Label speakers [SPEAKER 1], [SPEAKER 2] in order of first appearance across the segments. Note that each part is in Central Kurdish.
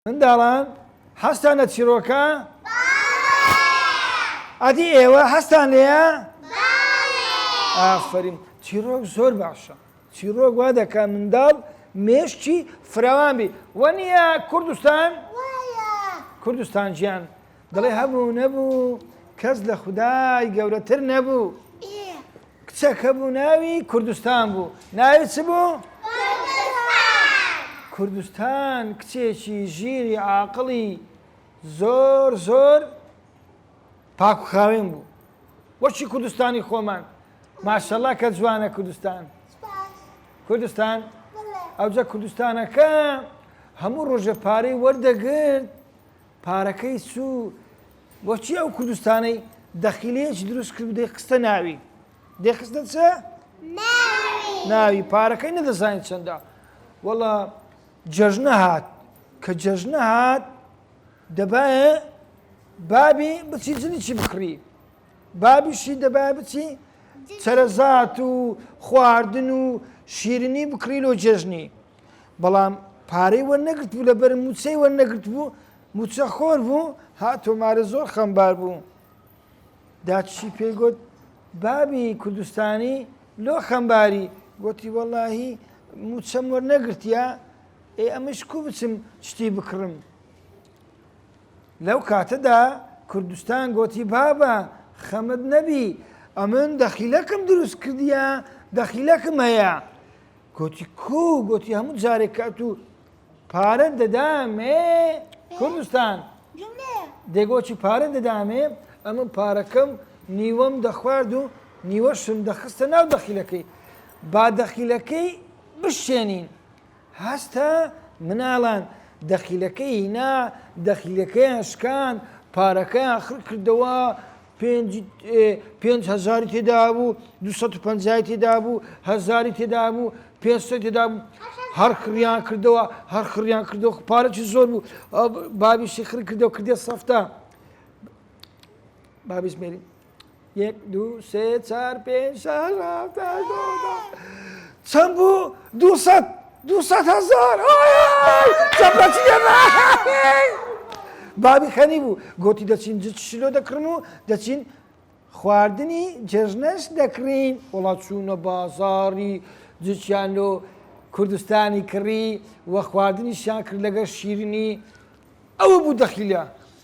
[SPEAKER 1] منداڵان حەزتان لە چیرۆکە؟ بەڵێ. ئەدی ئێوە حەزتان لێیە؟ بەڵێ. ئافەرین چیرۆک زۆر باشە چیرۆک وا دەکات منداڵ مێشکی فراوان بی وە نییە کوردستان؟ وایە. کوردستان گیان دەڵێ هەبوو نەبوو کەس لە خودای گەورەتر نەبوو کچەک هەبوو ناوی کوردستان بوو ناوی چ بوو؟ کوردستان کچێکی ژیری عاقڵی زۆر زۆر پاکخاوێن بوو وەچی کوردستانی خۆمان ماشەڵا کە جوانە کوردستان کوردستان ئەوجە کوردستانەکە هەموو ڕۆژە پارەی وەردەگرت پارەکەی چو بۆچی ئەو کوردستانەی دەخیلەیەکی دروست کرد و دەیخستە ناوی دەیخستە چ ناوی پارەکەی نەدەزانین چەندە وەڵا جەژنە هات کە جەژنە هات دەبایە بابی بچی جنیی بکڕی بابیشی دەبا بچی چەرەزات و خواردن و شیرنی بکڕی لۆ جێژنی بەڵام پارەی وە نەگرت بوو لەبەر موچەی وە نەگرت بوو موچە خۆر بوو ها تۆمارە زۆر خەمبار بوو داچی پێی گوت بابی کوردستانی لۆ خەمباری گوتی وەڵاهی موچەم وەرنەگرتیا ئێ ئەمەش کو بچم شتی بکڕم لەو کاتەدا کوردستان گۆتی بابە خەمت نەبی ئەمن دەخیلەکم دروست کردیە دەخیلەکم هەیە گۆتی کو گۆتی هەموو جارێک کات و پارە دەدامێ کوردستان دەگۆچی پارە دەدامێ ئەمە پارەکەم نیوەم دەخوارد و نیوەشم دەخستە ناو دەخیلەکەی با دەخیلەکەی بشێنین هەستا مناڵان دەخیلەکەی هینا دەخیلەکەیان شکاند پارەکەیان خڕ کردەوە پێنج پێنج هەزاری تێدابوو دو سەد و پەنجای تێدابوو هەزاری تێدابوو پێنج سەد تێدابوو هەر خڕیان کردەوە هەر خڕیان کردەوە پارەی زۆر بوو بابیشی خڕ کردەوە کردێ سەفتا بابیش مێری یەک دوو سێ چار پێنج شەش هەفت هەشت نۆ دە چەند بوو دوو سەد دوو سەد هەزار چەپەچی بابی خەنی بوو گوتی دەچین جچ شلۆ دەکڕم و دەچین خواردنی جێژنەش دەکڕین وڵات چوونە بازاری جچیان لۆ کوردستانی کڕی و خواردنیشیان کرد لەگەر شیرنی ئەوە بوو دەخیلە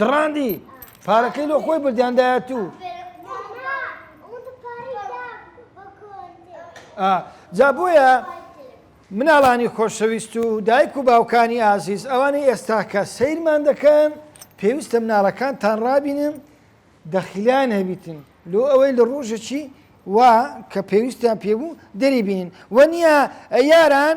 [SPEAKER 1] دڕاندی پارەکەی لۆ خۆی بردیان دایە تو جا بۆیە مناڵانی خۆشەویست و دایک و باوکانی ئازیز ئەوانەی ئێستاکە سیرمان دەکەن پێویستە مناڵەکان تان ڕابینن دەخیلیان هەبیتن لۆ ئەوەی لە ڕۆژەکی وا کە پێویستیان پێبوو دەریبین وە نییە یاران